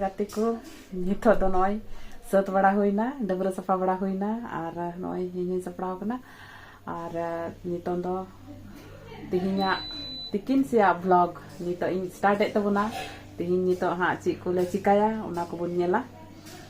ᱜᱟᱛᱮ ᱠᱚ ᱱᱤᱛᱚᱜ ᱫᱚ ᱱᱚᱜᱼᱚᱭ ᱥᱟᱹᱛ ᱵᱟᱲᱟ ᱦᱩᱭᱱᱟ ᱰᱟᱹᱵᱽᱨᱟᱹ ᱥᱟᱯᱷᱟ ᱵᱟᱲᱟ ᱦᱩᱭᱱᱟ ᱟᱨ ᱱᱚᱜᱼᱚᱭ ᱤᱧᱤᱧ ᱥᱟᱯᱲᱟᱣ ᱠᱟᱱᱟ ᱟᱨ ᱱᱤᱛᱚᱝ ᱫᱚ ᱛᱮᱦᱮᱧᱟᱜ ᱛᱤᱠᱤᱱ ᱥᱮᱭᱟᱜ ᱵᱞᱚᱜ ᱱᱤᱛᱚᱜ ᱤᱧ ᱥᱴᱟᱨᱴ ᱮᱫ ᱛᱟᱵᱚᱱᱟ ᱛᱮᱦᱮᱧ ᱱᱤᱛᱚᱜ ᱦᱟᱸᱜ ᱪᱮᱫ ᱠᱚᱞᱮ ᱪᱤᱠᱟᱭᱟ ᱚᱱᱟ ᱠᱚᱵᱚᱱ ᱧᱮᱞᱟ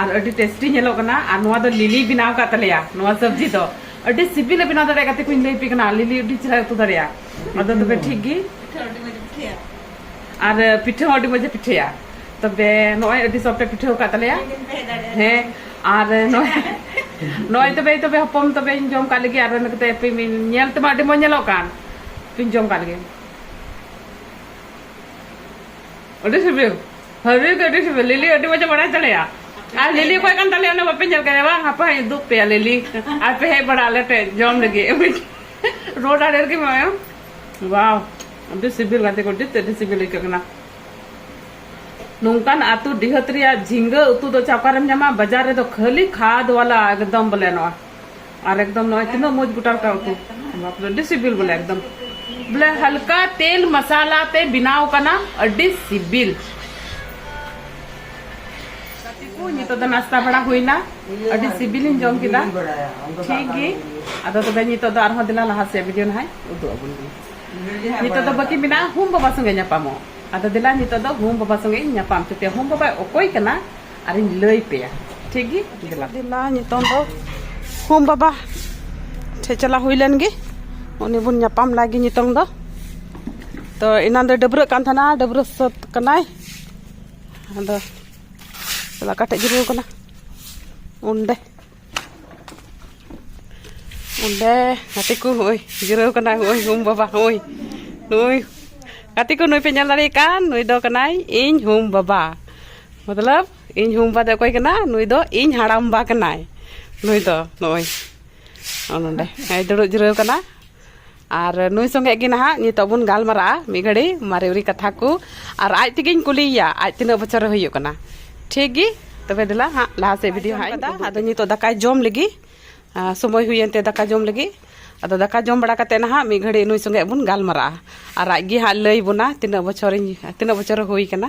ᱟᱨ ᱟᱹᱰᱤ ᱴᱮᱥᱴᱤ ᱧᱮᱞᱚᱜ ᱠᱟᱱᱟ ᱟᱨ ᱱᱚᱣᱟ ᱫᱚ ᱞᱤᱞᱤ ᱵᱮᱱᱟᱣ ᱠᱟᱜ ᱛᱟᱞᱮᱭᱟ ᱱᱚᱣᱟ ᱥᱚᱵᱡᱤ ᱫᱚ ᱟᱹᱰᱤ ᱥᱤᱵᱤᱞᱮ ᱵᱮᱱᱟᱣ ᱫᱟᱲᱮᱭᱟᱜ ᱠᱟᱛᱮ ᱠᱚᱧ ᱞᱟᱹᱭ ᱯᱮ ᱠᱟᱱᱟ ᱞᱤᱞᱤ ᱟᱹᱰᱤ ᱪᱮᱦᱨᱟ ᱩᱛᱩ ᱫᱟᱲᱮᱭᱟᱜᱼᱟ ᱟᱫᱚ ᱛᱚᱵᱮ ᱴᱷᱤᱠ ᱜᱮ ᱟᱨ ᱯᱤᱴᱷᱟᱹ ᱦᱚᱸ ᱟᱹᱰᱤ ᱢᱚᱡᱽ ᱮ ᱯᱤᱴᱷᱟᱹᱭᱟ ᱛᱚᱵᱮ ᱱᱚᱜᱼᱚᱭ ᱟᱹᱰᱤ ᱥᱚᱯᱴᱮ ᱯᱤᱴᱷᱟᱹ ᱟᱠᱟᱫ ᱛᱟᱞᱮᱭᱟ ᱦᱮᱸ ᱟᱨ ᱱᱚᱜᱼᱚᱭ ᱛᱚᱵᱮ ᱛᱚᱵᱮ ᱦᱚᱯᱚᱱ ᱛᱚᱵᱮᱧ ᱡᱚᱢ ᱠᱟᱜ ᱞᱮᱜᱮ ᱟᱨ ᱚᱱᱟ ᱠᱟᱛᱮ ᱯᱮ ᱧᱮᱞ ᱛᱮᱢᱟ ᱟᱹᱰᱤ ᱢᱚᱡᱽ ᱧᱮᱞᱚᱜ ᱠᱟᱱ ᱯᱮᱧ ᱡᱚᱢ ᱠᱟᱜ ᱞᱮᱜᱮ ᱟᱹᱰᱤ ᱥᱤᱵᱤᱞ ᱦᱟᱹᱵᱤ ᱫᱚ ᱟᱹᱰᱤ ᱥᱤᱵᱤᱞ ᱞᱤᱞᱤ ᱟᱹᱰᱤ ᱢᱚᱡᱽ ᱵᱟᱲᱟᱭ ᱛᱟᱞᱮᱭᱟ ᱟᱨ ᱞᱤᱞᱤ ᱚᱠᱚᱭ ᱠᱟᱱ ᱛᱟᱞᱮᱭᱟ ᱚᱱᱟ ᱵᱟᱯᱮ ᱧᱮᱞ ᱠᱟᱫᱮᱭᱟ ᱵᱟᱝ ᱦᱟᱯᱟ ᱦᱟᱹᱧ ᱩᱫᱩᱜ ᱯᱮᱭᱟ ᱞᱤᱞᱤ ᱟᱨ ᱯᱮ ᱦᱮᱡ ᱵᱟᱲᱟ ᱟᱞᱮ ᱴᱷᱮᱡ ᱡᱚᱢ ᱞᱟᱹᱜᱤᱫ ᱨᱳᱰ ᱟᱲᱮ ᱨᱮᱜᱮ ᱢᱮᱱᱟᱭᱟ ᱵᱟᱣ ᱟᱹᱰᱤ ᱥᱤᱵᱤᱞ ᱜᱟᱛᱮ ᱠᱚ ᱟᱹᱰᱤ ᱛᱮᱫ ᱟᱹᱰᱤ ᱥᱤᱵᱤᱞ ᱟᱹᱭᱠᱟᱹᱜ ᱠᱟᱱᱟ ᱱᱚᱝᱠᱟᱱ ᱟᱹᱛᱩ ᱰᱤᱦᱟᱹᱛ ᱨᱮᱭᱟᱜ ᱡᱷᱤᱸᱜᱟᱹ ᱩᱛᱩ ᱫᱚ ᱪᱟ ᱚᱠᱟᱨᱮᱢ ᱧᱟᱢᱟ ᱵᱟᱡᱟᱨ ᱨᱮᱫᱚ ᱠᱷᱟᱹᱞᱤ ᱠᱷᱟᱫᱽ ᱣᱟᱞᱟ ᱮᱠᱫᱚᱢ ᱵᱚᱞᱮ ᱱᱚᱣᱟ ᱟᱨ ᱮᱠᱫᱚᱢ ᱱᱚᱜᱼᱚᱭ ᱛᱤᱱᱟᱹᱜ ᱢᱚᱡᱽ ᱜᱚᱴᱟ ᱜᱚᱴᱟ ᱩᱛᱩ ᱵᱟᱯ ᱨᱮ ᱟᱹᱰᱤ ᱥᱤᱵᱤᱞ ᱵᱚᱞᱮ ᱮᱠᱫᱚᱢ ᱵᱚᱞᱮ ᱦᱟᱞᱠᱟ ᱛᱮᱞ ᱢᱟᱥᱟᱞᱟ ᱛᱮ ᱵᱮᱱᱟᱣ ᱠᱟᱱᱟ ᱟᱹᱰᱤ ᱥᱤᱵᱤᱞ ᱜᱟᱛᱮ ᱠᱚ ᱱᱤᱛᱚᱜ ᱫᱚ ᱱᱟᱥᱛᱟ ᱵᱟᱲᱟ ᱦᱩᱭᱱᱟ ᱟᱹᱰᱤ ᱥᱤᱵᱤᱞᱤᱧ ᱡᱚᱢ ᱠᱮᱫᱟ ᱴᱷᱤᱠ ᱜᱮ ᱟᱫᱚ ᱛᱚᱵᱮ ᱱᱤᱛᱚᱜ ᱫᱚ ᱟᱨᱦᱚᱸ ᱫᱮᱞᱟ ᱞᱟᱦᱟ ᱥᱮᱫ ᱵᱷᱤᱰᱤᱭᱳ ᱱᱟᱦᱟᱜ ᱩᱫᱩᱜ ᱟᱵᱚᱱ ᱜᱮ ᱱᱤᱛᱚᱜ ᱫᱚ ᱵᱟᱹᱠᱤ ᱢᱮᱱᱟᱜᱼᱟ ᱦᱩᱢ ᱵᱟᱵᱟ ᱥᱚᱸᱜᱮ ᱧᱟᱯᱟᱢᱚᱜ ᱟᱫᱚ ᱫᱮᱞᱟ ᱱᱤᱛᱚᱜ ᱫᱚ ᱦᱩᱢ ᱵᱟᱵᱟ ᱥᱚᱸᱜᱮ ᱤᱧ ᱧᱟᱯᱟᱢ ᱦᱚᱪᱚ ᱯᱮᱭᱟ ᱦᱩᱢ ᱵᱟᱵᱟᱭ ᱚᱠᱚᱭ ᱠᱟᱱᱟ ᱟᱨᱤᱧ ᱞᱟᱹᱭ ᱯᱮᱭᱟ ᱴᱷᱤᱠ ᱜᱮ ᱫᱮᱞᱟ ᱫᱮᱞᱟ ᱱᱤᱛᱚᱝ ᱫᱚ ᱦᱚᱢ ᱵᱟᱵᱟ ᱴᱷᱮ ᱪᱟᱞᱟᱣ ᱦᱩᱭ ᱞᱮᱱ ᱜᱮ ᱩᱱᱤ ᱵᱚᱱ ᱧᱟᱯᱟᱢ ᱞᱟᱜᱮ ᱱᱤᱛᱚᱝ ᱫᱚ ᱛᱚ ᱮᱱᱟᱱ ᱫᱚ ᱰᱟᱹᱵᱽᱨᱟᱹᱜ ᱠᱟᱱ ᱛᱟᱦᱮᱱᱟ ᱰᱟᱹᱵᱽᱨᱟᱹ ᱥᱟᱹᱛ ᱠᱟᱱᱟᱭ ᱟᱫᱚ ᱞᱟᱠᱟ ᱴᱷᱮᱡ ᱡᱤᱨᱟᱹᱣ ᱠᱟᱱᱟ ᱚᱸᱰᱮ ᱚᱸᱰᱮ ᱜᱟᱛᱮ ᱠᱚ ᱦᱚᱸᱜᱼᱚᱭ ᱡᱤᱨᱟᱹᱣ ᱠᱟᱱᱟ ᱦᱚᱸᱜᱼᱚᱭ ᱦᱩᱢ ᱵᱟᱵᱟ ᱦᱚᱸᱜᱼᱚᱭ ᱱᱩᱭ ᱜᱟᱛᱮ ᱠᱚ ᱱᱩᱭ ᱯᱮ ᱧᱮᱞ ᱫᱟᱲᱮᱭᱟᱭ ᱠᱟᱱ ᱱᱩᱭ ᱫᱚ ᱠᱟᱱᱟᱭ ᱤᱧ ᱦᱩᱢ ᱵᱟᱵᱟ ᱢᱚᱛᱞᱚᱵ ᱤᱧ ᱦᱩᱢ ᱵᱟᱵᱟ ᱫᱚ ᱚᱠᱚᱭ ᱠᱟᱱᱟ ᱱᱩᱭ ᱫᱚ ᱤᱧ ᱦᱟᱲᱟᱢ ᱵᱟ ᱠᱟᱱᱟᱭ ᱱᱩᱭ ᱫᱚ ᱱᱚᱜᱼᱚᱭ ᱱᱚᱸᱰᱮ ᱫᱩᱲᱩᱵ ᱡᱤᱨᱟᱹᱣ ᱠᱟᱱᱟ ᱟᱨ ᱱᱩᱭ ᱥᱚᱸᱜᱮ ᱜᱮ ᱱᱟᱦᱟᱜ ᱱᱤᱛᱚᱜ ᱵᱚᱱ ᱜᱟᱞᱢᱟᱨᱟᱜᱼᱟ ᱢᱤᱫ ᱜᱷᱟᱹᱲᱤ ᱢᱟᱨᱮ ᱩᱨᱤ ᱠᱟᱛᱷᱟ ᱠᱚ ᱟᱨ ᱟᱡ ᱛᱮᱜᱮᱧ ᱠᱩᱞᱤᱭᱮᱭᱟ ᱟᱡ ᱛᱤᱱᱟᱹᱜ ᱵᱚᱪᱷᱚᱨ ᱦᱩᱭᱩᱜ ᱠᱟᱱᱟ ᱴᱷᱤᱠ ᱜᱮ ᱛᱚᱵᱮ ᱫᱮᱞᱟ ᱦᱟᱸᱜ ᱞᱟᱦᱟ ᱥᱮᱫ ᱵᱷᱤᱰᱤᱭᱳ ᱦᱟᱸᱜ ᱤᱧ ᱟᱫᱚ ᱱᱤᱛᱚᱜ ᱫᱟᱠᱟᱭ ᱡᱚᱢ ᱞᱟᱹᱜᱤᱫ ᱥᱚᱢᱚᱭ ᱦᱩᱭᱮᱱ ᱛᱮ ᱫᱟᱠᱟ ᱡᱚᱢ ᱞᱟᱹᱜᱤᱫ ᱟᱫᱚ ᱫᱟᱠᱟ ᱡᱚᱢ ᱵᱟᱲᱟ ᱠᱟᱛᱮ ᱱᱟᱦᱟᱜ ᱢᱤᱫ ᱜᱷᱟᱹᱲᱤ ᱱᱩᱭ ᱥᱚᱸᱜᱮ ᱵᱚᱱ ᱜᱟᱞᱢᱟᱨᱟᱜᱼᱟ ᱟᱨ ᱟᱡ ᱜᱮ ᱦᱟᱸᱜ ᱞᱟᱹᱭ ᱵᱚᱱᱟ ᱛᱤᱱᱟᱹᱜ ᱵᱚᱪᱷᱚᱨᱤᱧ ᱛᱤᱱᱟᱹᱜ ᱵᱚᱪᱷᱚᱨ ᱦᱩᱭ ᱠᱟᱱᱟ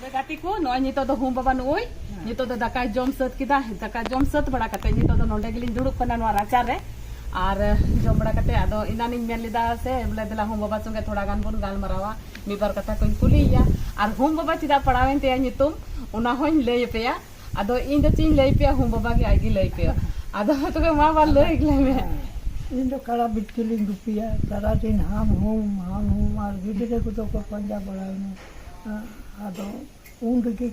ᱜᱟᱛᱮ ᱠᱚ ᱱᱚᱜᱼᱚᱭ ᱱᱤᱛᱚᱜ ᱫᱚ ᱦᱩᱢ ᱵᱟᱵᱟ ᱱᱩᱭ ᱱᱤᱛᱚᱜ ᱫᱚ ᱫᱟᱠᱟᱭ ᱡᱚᱢ ᱥᱟᱹᱛ ᱠᱮᱫᱟ ᱫᱟᱠᱟ ᱡᱚᱢ ᱥᱟᱹᱛ ᱵᱟᱲᱟ ᱠᱟᱛᱮ ᱱᱤᱛᱚᱜ ᱫᱚ ᱱᱚᱰᱮ ᱜᱮᱞᱤᱧ ᱫᱩᱲᱩᱵ ᱠᱟᱱᱟ ᱱᱚᱣᱟ ᱨᱟᱪᱟ ᱨᱮ ᱟᱨ ᱡᱚᱢ ᱵᱟᱲᱟ ᱠᱟᱛᱮ ᱟᱫᱚ ᱤᱱᱟᱱᱤᱧ ᱢᱮᱱ ᱞᱮᱫᱟ ᱥᱮ ᱵᱚᱞᱮ ᱫᱮᱞᱟ ᱦᱩᱢ ᱵᱟᱵᱟ ᱥᱚᱸᱜᱮ ᱛᱷᱚᱲᱟ ᱜᱟᱱ ᱵᱚᱱ ᱜᱟᱞᱢᱟᱨᱟᱣᱟ ᱢᱤᱫ ᱵᱟᱨ ᱠᱟᱛᱷᱟ ᱠᱚᱧ ᱠᱩᱞᱤᱭᱮᱭᱟ ᱟᱨ ᱦᱩᱢ ᱵᱟᱵᱟ ᱪᱮᱫᱟᱜ ᱯᱟᱲᱟᱣᱮᱱ ᱛᱟᱭᱟ ᱧᱩᱛᱩᱢ ᱚᱱᱟ ᱦᱚᱧ ᱞᱟᱹᱭ ᱟᱯᱮᱭᱟ ᱟᱫᱚ ᱤᱧ ᱫᱚ ᱪᱮᱫ ᱤᱧ ᱞᱟᱹᱭ ᱯᱮᱭᱟ ᱦᱩᱢ ᱵᱟᱵᱟ ᱜᱮ ᱟᱡ ᱜᱮ ᱞᱟᱹᱭ ᱯᱮᱭᱟ ᱟᱫᱚ ᱛᱚᱵᱮ ᱢᱟ ᱵᱟ ᱞᱟᱹᱭ ᱜᱮᱞᱟᱭ ᱢᱮ ᱤᱧ ᱫᱚ ᱠᱟᱲᱟ ᱵᱤᱛᱠᱤᱞᱤᱧ ᱜᱩᱯᱤᱭᱟ ᱥᱟᱨᱟᱫᱤᱱ ᱦᱟᱢ ᱦᱩᱢ ᱦᱟᱢ ᱦᱩᱢ ᱟᱨ ᱜᱤᱫᱽᱨᱟᱹ ᱠᱚᱫᱚ ᱠᱚ ᱯᱟᱸᱡᱟ ᱵᱟᱲᱟᱭᱤᱧᱟ ᱟᱫᱚ ᱩᱱ ᱨᱮᱜᱮ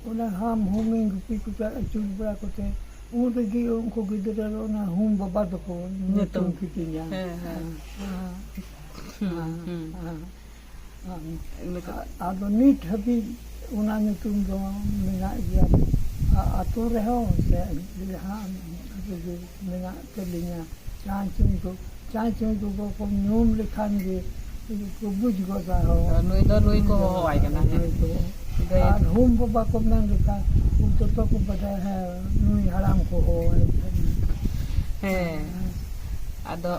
ᱚᱱᱟ ᱦᱟᱢ ᱦᱩᱢᱤᱧ ᱜᱩᱯᱤ ᱠᱚ ᱪᱟᱜ ᱟᱹᱪᱩᱨ ᱵᱟᱲᱟ ᱠᱚᱛᱮ ᱩᱱ ᱨᱮᱜᱮ ᱩᱱᱠᱩ ᱜᱤᱫᱽᱨᱟᱹ ᱫᱚ ᱚᱱᱟ ᱦᱩᱢ ᱵᱟᱵᱟ ᱫᱚᱠᱚ ᱧᱩᱛᱩᱢ ᱠᱤᱫᱤᱧᱟ ᱟᱫᱚ ᱱᱤᱛ ᱦᱟᱹᱵᱤᱡ ᱚᱱᱟ ᱧᱩᱛᱩᱢ ᱫᱚ ᱢᱮᱱᱟᱜ ᱜᱮᱭᱟ ᱟᱛᱳ ᱨᱮᱦᱚᱸ ᱥᱮ ᱡᱟᱦᱟᱸ ᱨᱮᱜᱮ ᱢᱮᱱᱟᱜ ᱛᱟᱹᱞᱤᱧᱟ ᱪᱟᱸᱭ ᱪᱩᱸᱭ ᱠᱚ ᱪᱟᱸᱭ ᱪᱩᱸᱭ ᱠᱚᱠᱚ ᱠᱚ ᱧᱩᱢ ᱞᱮᱠᱷᱟᱱ ᱜᱮ ᱠᱚ ᱵᱩᱡᱽ ᱜᱚᱫᱟ ᱦᱚᱸ ᱛᱚ ᱱᱩᱭ ᱫᱚ ᱱᱩᱭ ᱠᱚ ᱦᱚᱦᱚᱣᱟᱭ ᱠᱟᱱᱟ ᱦᱮᱸ ᱱᱩᱭ ᱠᱚ ᱜᱟᱹᱭ ᱟᱨ ᱦᱩᱢ ᱵᱟᱵᱟ ᱠᱚ ᱢᱮᱱ ᱞᱮᱠᱷᱟᱱ ᱩᱱ ᱡᱚᱛᱚ ᱠᱚ ᱵᱟᱰᱟᱭᱟ ᱦᱮᱸ ᱱᱩᱭ ᱦᱟᱲᱟᱢ ᱠᱚ ᱦᱚᱦᱚᱣᱟᱭ ᱠᱟᱱᱟ ᱦᱮᱸ ᱟᱫᱚ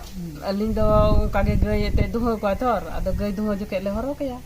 ᱟᱹᱞᱤᱧ ᱫᱚ ᱚᱱᱠᱟ ᱜᱮ ᱜᱟᱹᱭ ᱮᱱᱛᱮᱫ ᱫᱩᱦᱟᱹᱣ ᱠᱚᱣᱟᱭ ᱛᱷᱚᱨ ᱟᱫᱚ ᱜᱟᱹᱭ ᱫᱩᱦᱟᱹᱣ ᱡᱚᱠᱷᱮᱡ ᱞᱮ ᱦᱚᱨᱦᱚ ᱠᱟᱭᱟ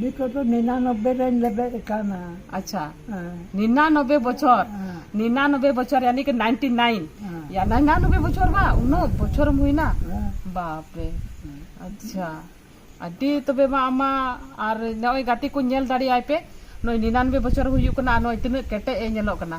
ᱱᱤᱛᱚᱜ ᱫᱚ ᱱᱤᱱᱟᱱᱚᱵᱵᱮ ᱨᱮᱧ ᱞᱮᱵᱮᱫ ᱟᱠᱟᱱᱟ ᱟᱪᱪᱷᱟ ᱱᱤᱱᱟᱱᱚᱵᱵᱮ ᱵᱚᱪᱷᱚᱨ ᱱᱤᱱᱟᱱᱚᱵᱵᱮ ᱵᱚᱪᱷᱚᱨ ᱭᱟᱱᱤ ᱠᱤ ᱱᱟᱭᱤᱱᱴᱤ ᱱᱟᱭᱤᱱ ᱭᱟ ᱱᱤᱱᱟᱱᱚᱵᱵᱮ ᱵᱚᱪᱷᱚᱨ ᱵᱟ ᱩᱱᱟᱹᱜ ᱵᱚᱪᱷᱚᱨᱮᱢ ᱦᱩᱭᱱᱟ ᱵᱟᱯ ᱨᱮ ᱟᱪᱪᱷᱟ ᱟᱹᱰᱤ ᱛᱚᱵᱮ ᱢᱟ ᱟᱢᱟ ᱟᱨ ᱱᱚᱜᱼᱚᱭ ᱜᱟᱛᱮ ᱠᱚ ᱧᱮᱞ ᱫᱟᱲᱮᱭᱟᱭ ᱯᱮ ᱱᱚᱜᱼᱚᱭ ᱱᱤᱱᱟᱱᱚᱵᱵᱮ ᱵᱚᱪᱷᱚᱨ ᱦᱩᱭᱩᱜ ᱠᱟᱱᱟ ᱟᱨ ᱱᱚᱜᱼᱚᱭ ᱛᱤᱱᱟᱹᱜ ᱠᱮᱴᱮᱡ ᱮ ᱧᱮᱞᱚᱜ ᱠᱟᱱᱟ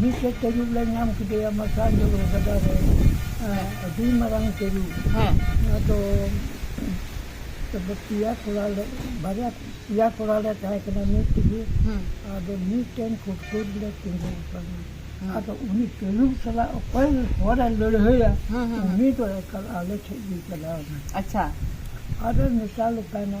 ᱢᱤᱫᱴᱮᱡ ᱛᱟᱹᱨᱩᱵ ᱞᱮ ᱧᱟᱢ ᱠᱮᱫᱮᱭᱟ ᱢᱟᱨᱥᱟᱞ ᱡᱚᱞᱚ ᱜᱟᱰᱟ ᱨᱮ ᱟᱹᱰᱤ ᱢᱟᱨᱟᱝ ᱛᱟᱹᱨᱩᱵ ᱟᱫᱚ ᱛᱚᱵᱮ ᱯᱮᱭᱟ ᱠᱚᱲᱟ ᱞᱮ ᱵᱟᱨᱭᱟ ᱯᱮᱭᱟ ᱠᱚᱲᱟ ᱞᱮ ᱛᱟᱦᱮᱸ ᱠᱟᱱᱟ ᱢᱤᱫ ᱛᱮᱜᱮ ᱟᱫᱚ ᱢᱤᱫᱴᱮᱱ ᱠᱩᱴᱠᱩᱨ ᱞᱮ ᱛᱤᱸᱜᱩ ᱟᱠᱟᱱᱟ ᱟᱫᱚ ᱩᱱᱤ ᱛᱟᱹᱨᱩᱵ ᱥᱟᱞᱟᱜ ᱚᱠᱚᱭ ᱦᱚᱲᱮ ᱞᱟᱹᱲᱦᱟᱹᱭᱟ ᱩᱱᱤ ᱫᱚ ᱮᱠᱟᱞ ᱟᱞᱮ ᱴᱷᱮᱡ ᱜᱮ ᱪᱟᱞᱟᱣ ᱮᱱᱟ ᱟᱫᱚᱭ ᱢᱮᱛᱟᱞᱮ ᱠᱟᱱᱟ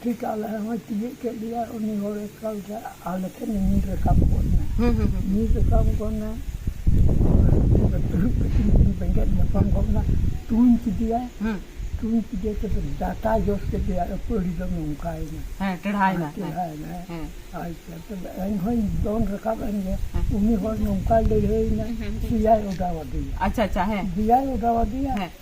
ᱴᱷᱤᱠ ᱟᱞᱮ ᱦᱚᱸᱭ ᱛᱤᱭᱳᱜ ᱠᱮᱫ ᱞᱮᱭᱟ ᱩᱱᱤ ᱦᱚᱲ ᱮᱠᱟᱞ ᱛᱮ ᱟᱞᱮ ᱴᱷᱮᱱ ᱧᱤᱨ ᱨᱟᱠᱟᱵ ᱜᱚᱫ ᱮᱱᱟ ᱦᱩᱸ ᱦᱩᱸ ᱦᱩᱸ ᱧᱤᱨ ᱨᱟᱠᱟᱵ ᱜᱚᱫ ᱮᱱᱟ ᱫᱩᱲᱩᱵ ᱠᱟᱛᱮᱫ ᱠᱤᱱ ᱵᱮᱸᱜᱮᱫ ᱧᱟᱯᱟᱢ ᱜᱚᱫ ᱮᱱᱟ ᱛᱩᱧ ᱠᱮᱫᱮᱭᱟ ᱦᱩᱸ ᱛᱩᱧ ᱠᱮᱫᱮᱭᱟ ᱛᱚᱵᱮ ᱰᱟᱴᱟ ᱡᱚᱥ ᱠᱮᱫᱮᱭᱟ ᱟᱹᱯᱟᱹᱲᱤ ᱫᱚ ᱱᱚᱝᱠᱟᱭᱮᱱᱟ ᱦᱮᱸ ᱴᱮᱲᱦᱟᱭᱮᱱᱟ ᱦᱮᱸ ᱪᱮᱦᱨᱟᱭᱮᱱᱟ ᱦᱮᱸ ᱟᱪᱪᱷᱟ ᱛᱚᱵᱮ ᱮᱱᱦᱚᱸᱧ ᱫᱚᱱ ᱨᱟᱠᱟᱵ ᱮᱱ ᱜᱮ ᱩᱱᱤ ᱦᱚᱲ ᱱᱚᱝᱠᱟᱭ ᱞᱟᱹᱲᱦᱟᱹᱭᱮᱱᱟ ᱫᱮᱭᱟᱭ ᱚᱰᱟᱣ ᱟᱫᱮᱭᱟ ᱟᱪᱪᱷᱟ ᱟᱪᱪᱷᱟ ᱦᱮᱸ ᱫᱮᱭᱟᱭ ᱚᱰᱟᱣ ᱟᱫᱮᱭᱟ ᱦᱮᱸ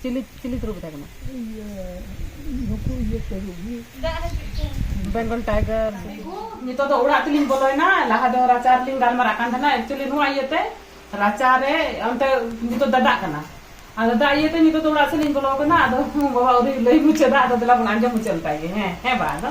ᱪᱤᱞᱤ ᱪᱤᱞᱤ ᱛᱩᱨᱩ ᱠᱟᱛᱷᱟ ᱠᱟᱱᱟ ᱱᱩᱠᱩ ᱤᱭᱟᱹ ᱛᱟᱹᱨᱩᱵ ᱜᱮ ᱵᱮᱝᱜᱚᱞ ᱴᱟᱭᱜᱟᱨ ᱱᱤᱛᱚᱜ ᱫᱚ ᱚᱲᱟᱜ ᱛᱮᱞᱤᱧ ᱵᱚᱞᱚᱭᱮᱱᱟ ᱞᱟᱦᱟ ᱫᱚ ᱨᱟᱪᱟ ᱨᱮᱞᱤᱧ ᱜᱟᱞᱢᱟᱨᱟᱜ ᱠᱟᱱ ᱛᱟᱦᱮᱱᱟ ᱮᱠᱪᱩᱭᱮᱞᱤ ᱱᱚᱣᱟ ᱤᱭᱟᱹᱛᱮ ᱨᱟᱪᱟ ᱨᱮ ᱚᱱᱛᱮ ᱱᱤᱛᱚᱜ ᱫᱟᱫᱟᱜ ᱠᱟᱱᱟ ᱟᱨ ᱫᱟᱫᱟ ᱤᱭᱟᱹᱛᱮ ᱱᱤᱛᱚᱜ ᱫᱚ ᱚᱲᱟᱜ ᱥᱮᱫ ᱞᱤᱧ ᱵᱚᱞᱚ ᱠᱟᱱᱟ ᱟᱫᱚ ᱵᱟᱵᱟ ᱟᱹᱣᱨᱤ ᱞᱟᱹᱭ ᱢᱩᱪᱟᱹᱫᱟ ᱟᱫᱚ ᱫᱮᱞᱟ ᱵᱚᱱ ᱟᱸᱡᱚᱢ ᱢᱩᱪᱟᱹᱫ ᱞᱮᱛᱟᱭ ᱜᱮ ᱦᱮᱸ ᱦᱮᱸ ᱵᱟ ᱟᱫᱚ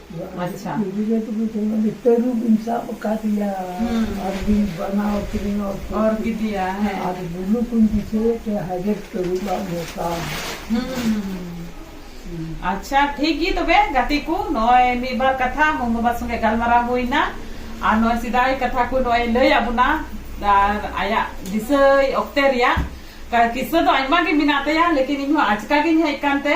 ᱟᱪᱪᱷᱟ ᱜᱤᱫᱽᱨᱟᱹ ᱠᱚᱫᱚ ᱡᱮᱢᱚᱱ ᱛᱟᱹᱨᱩᱵ ᱤᱧ ᱥᱟᱵ ᱟᱠᱟᱫᱮᱭᱟ ᱟᱨ ᱵᱤᱧ ᱵᱟᱱᱟᱣ ᱠᱤᱨᱤᱧ ᱚᱨ ᱠᱮᱫᱮᱭᱟ ᱦᱮᱸ ᱟᱨ ᱵᱩᱞᱩ ᱠᱚᱧ ᱫᱤᱥᱟᱹᱭᱮᱫ ᱛᱮ ᱦᱟᱡᱟᱨ ᱛᱟᱹᱨᱩᱵᱟᱜ ᱢᱚᱥᱟ ᱟᱪᱪᱷᱟ ᱴᱷᱤᱠ ᱜᱮ ᱛᱚᱵᱮ ᱜᱟᱛᱮ ᱠᱚ ᱱᱚᱜᱼᱚᱭ ᱢᱤᱫ ᱵᱟᱨ ᱠᱟᱛᱷᱟ ᱢᱚᱢ ᱵᱟᱵᱟ ᱥᱚᱸᱜᱮ ᱜᱟᱞᱢᱟᱨᱟᱣ ᱦᱩᱭᱱᱟ ᱟᱨ ᱱᱚᱜᱼᱚᱭ ᱥᱮᱫᱟᱭ ᱠᱟᱛᱷᱟ ᱠᱚ ᱱᱚᱜᱼᱚᱭ ᱞᱟᱹᱭ ᱟᱫ ᱵᱚᱱᱟ ᱟᱨ ᱟᱭᱟᱜ ᱫᱤᱥᱟᱹᱭ ᱚᱠᱛᱮ ᱨᱮᱭᱟᱜ ᱠᱤᱥᱟᱹ ᱫᱚ ᱟᱭᱢᱟ ᱜᱮ ᱢᱮᱱᱟᱜ ᱛᱟᱭᱟ ᱞᱮᱠᱤᱱ ᱤᱧ ᱦᱚᱸ ᱟᱪᱠᱟ ᱜᱤᱧ ᱦᱮᱡ ᱠᱟᱱᱛᱮ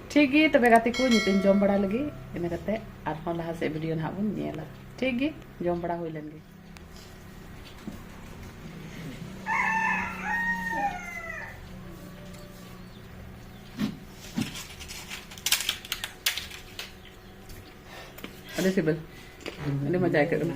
ᱴᱷᱤᱠ ᱜᱮ ᱛᱚᱵᱮ ᱜᱟᱛᱮ ᱠᱚ ᱱᱤᱛᱚᱜ ᱡᱚᱢ ᱵᱟᱲᱟ ᱞᱟᱹᱜᱤᱫ ᱤᱱᱟᱹ ᱠᱟᱛᱮ ᱟᱨᱦᱚᱸ ᱞᱟᱦᱟ ᱥᱮᱫ ᱵᱷᱤᱰᱤᱭᱳ ᱱᱟᱦᱟᱜ ᱵᱚᱱ ᱧᱮᱞᱟ ᱴᱷᱤᱠ ᱜᱮ ᱡᱚᱢ ᱵᱟᱲᱟ ᱦᱩᱭ ᱞᱮᱱ ᱜᱮ ᱟᱹᱰᱤ ᱥᱤᱵᱤᱞ ᱟᱹᱰᱤ ᱢᱚᱡᱟ ᱟᱹᱭᱠᱟᱹᱜ ᱠᱟᱱᱟ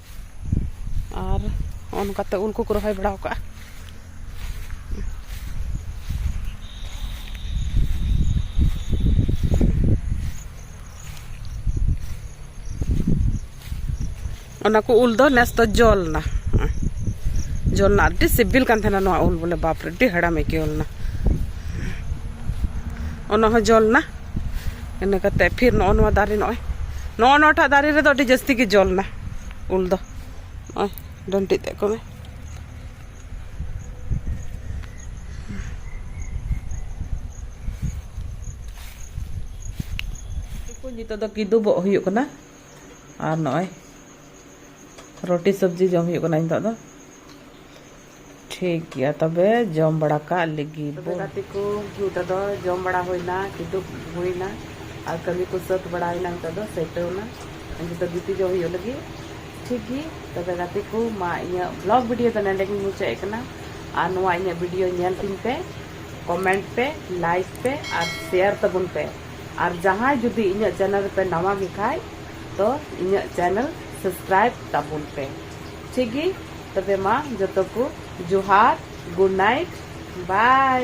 ᱟᱨ ᱱᱚᱜᱼᱚ ᱱᱚᱝᱠᱟᱛᱮ ᱩᱞ ᱠᱚᱠᱚ ᱨᱚᱦᱚᱭ ᱵᱟᱲᱟ ᱠᱟᱜᱼᱟ ᱚᱱᱟ ᱠᱚ ᱩᱞ ᱫᱚ ᱱᱮᱥ ᱫᱚ ᱡᱚ ᱞᱮᱱᱟ ᱡᱚ ᱞᱮᱱᱟ ᱟᱹᱰᱤ ᱥᱤᱵᱤᱞ ᱠᱟᱱ ᱛᱟᱦᱮᱱᱟ ᱱᱚᱣᱟ ᱩᱞ ᱵᱚᱞᱮ ᱵᱟᱯᱨᱮ ᱟᱹᱰᱤ ᱦᱮᱲᱮᱢ ᱟᱹᱭᱠᱟᱹᱣ ᱞᱮᱱᱟ ᱚᱱᱟ ᱦᱚᱸ ᱡᱚ ᱞᱮᱱᱟ ᱤᱱᱟᱹ ᱠᱟᱛᱮᱫ ᱯᱷᱤᱨ ᱱᱚᱜᱼᱚ ᱱᱚᱣᱟ ᱫᱟᱨᱮ ᱱᱚᱜᱼᱚᱭ ᱱᱚᱜᱼᱚ ᱱᱚᱣᱟᱴᱟᱜ ᱫᱟᱨᱮ ᱨᱮᱫᱚ ᱟᱹᱰᱤ ᱡᱟᱹᱥᱛᱤ ᱜᱮ ᱡᱚ ᱞᱮᱱᱟ ᱩᱞ ᱫᱚ ᱱᱚᱜᱼᱚᱭ ᱰᱟᱹᱱᱴᱤᱡ ᱛᱮᱫ ᱠᱚ ᱢᱮ ᱱᱤᱛᱚᱜ ᱫᱚ ᱠᱤᱫᱩᱵᱚᱜ ᱦᱩᱭᱩᱜ ᱠᱟᱱᱟ ᱟᱨ ᱱᱚᱜᱼᱚᱭ ᱨᱩᱴᱤ ᱥᱚᱵᱽᱡᱤ ᱡᱚᱢ ᱦᱩᱭᱩᱜ ᱠᱟᱱᱟ ᱱᱤᱛᱚᱜ ᱫᱚ ᱴᱷᱤᱠ ᱜᱮᱭᱟ ᱛᱚᱵᱮ ᱡᱚᱢ ᱵᱟᱲᱟ ᱠᱟᱜ ᱞᱮᱜᱮ ᱛᱚᱵᱮ ᱵᱚᱱ ᱜᱟᱛᱮ ᱠᱚ ᱱᱤᱛᱚᱜ ᱫᱚ ᱡᱚᱢ ᱵᱟᱲᱟ ᱦᱩᱭᱱᱟ ᱠᱤᱫᱩᱵ ᱦᱩᱭᱱᱟ ᱟᱨ ᱠᱟᱹᱢᱤ ᱠᱚ ᱥᱟᱹᱛ ᱵᱟᱲᱟᱭᱮᱱᱟ ᱱᱤᱛᱚᱜ ᱫᱚ ᱥᱮᱴᱮᱨ ᱮᱱᱟ ᱱᱤᱛᱚᱜ ᱫᱚ ᱜᱤᱛᱤᱡᱚᱜ ᱦᱩᱭᱩᱜ ᱞᱟᱹᱜᱤᱫ ᱴᱷᱤᱠ ᱜᱮ ᱛᱚᱵᱮ ᱜᱟᱛᱮ ᱠᱚ ᱢᱟ ᱤᱧᱟᱹᱜ ᱵᱞᱚᱜ ᱵᱷᱤᱰᱤᱭᱳ ᱫᱚ ᱱᱚᱰᱮ ᱜᱤᱧ ᱢᱩᱪᱟᱹᱫ ᱮᱫ ᱠᱟᱱᱟ ᱟᱨ ᱱᱚᱣᱟ ᱤᱧᱟᱹᱜ ᱵᱷᱤᱰᱤᱭᱳ ᱧᱮᱞ ᱛᱤᱧ ᱯᱮ ᱠᱚᱢᱮᱱᱴ ᱯᱮ ᱞᱟᱭᱤᱠ ᱯᱮ ᱟᱨ ᱥᱮᱭᱟᱨ ᱛᱟᱵᱚᱱ ᱯᱮ ᱟᱨ ᱡᱟᱦᱟᱸᱭ ᱡᱩᱫᱤ ᱤᱧᱟᱹᱜ ᱪᱮᱱᱮᱞ ᱨᱮᱯᱮ ᱱᱟᱣᱟ ᱜᱮ ᱠᱷᱟᱡ ᱛᱚ ᱤᱧᱟᱹᱜ ᱪᱮᱱᱮᱞ ᱥᱟᱵᱥᱠᱨᱟᱭᱤᱵ ᱛᱟᱵᱚᱱ ᱯᱮ ᱴᱷᱤᱠ ᱜᱮ ᱛᱚᱵᱮ ᱢᱟ ᱡᱚᱛᱚ ᱠᱚ ᱡᱚᱦᱟᱨ ᱜᱩᱰ ᱱᱟᱭᱤᱴ ᱵᱟᱭ᱾